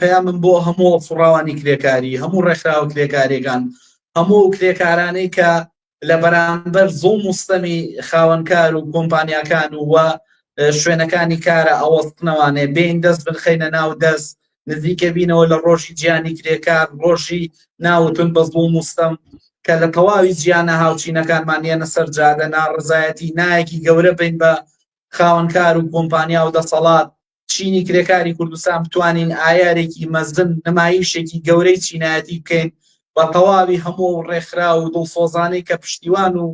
پەیامم بۆ هەموو فڕاوانی کرێکاری هەموو ڕێکخراوە کرێکارێکان هەموو کرێکارانەی کە لە بەرامبەر زۆ مستەمی خاوەنکار و کۆمپانیاکان و وە شوێنەکانی کارە ئەوەستنەوانێ بین دەست بنخینە ناو دەست نزیکە بینەوە لە ڕۆژی جیانی کرێکار ڕۆژی ناوتون بە زۆ مستەم کە لە تەواوی جیانە هاوچینەکانمان یەنە سەر جادە ناڕزایەتی نایەکی گەورە بین بە خاوەنکار و کۆمپانیا و دەسەڵات چینی کرێکاری کوردستان بتوانین ئایارێکی مەزن نمایشێکی گەورەی چینایەتی بکەین بە تەواوی هەموو و ڕێکخرا و دڵسۆزانەی کە پشتیوان و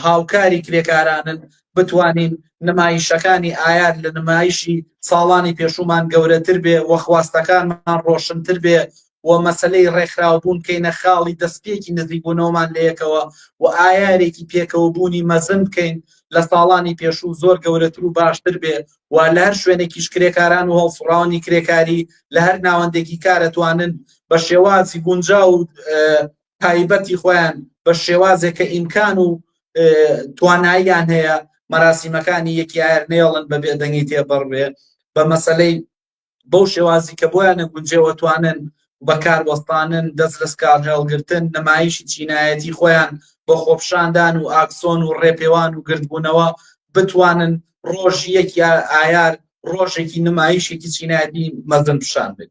هاوکاری کرێکارانن بتوانین نمایشەکانی ئایار لە نمایشی ساڵانی پێشومان گەورەتر بێ وەخواستەکانمان ڕۆشنتر بێ و مەسەلەی ڕێکخراوبوون بکەینە خاڵی دەستپێکی نزیکبوونەوەمان لەیەکەوە و ئایارێکی پێکەوەبوونی مەزن بکەین لە ساڵانی پێشوو زۆر گەورەتر و باشتر بێ و لە هەر شوێنێکیش کرێکاران و هەڵسوڕاوانی کرێکاری لە هەر ناوەندێکی کار ئەتوانن بە شێوازی گونجاو و تایبەتی خۆیان بە شێوازێک کە ئیمکان و تواناییان هەیە مەراسیمەکانی یەکی ئایر نێڵن بە بێدەنگی تێبڕێ بە مەسلەی بەو شێوازی کە بۆیانە گونجێوە توانن بەکار وەستانن دەست لەس کار هێڵگرتن نمایشی چینایەتی خۆیان بۆ خۆپشاندان و ئاکسۆن و ڕێپێوان و گردبوونەوە بتوانن ڕۆژ یەک یا ئایار ڕۆژێکی نمایشێکی چینایەتی مەزن پیشان بێت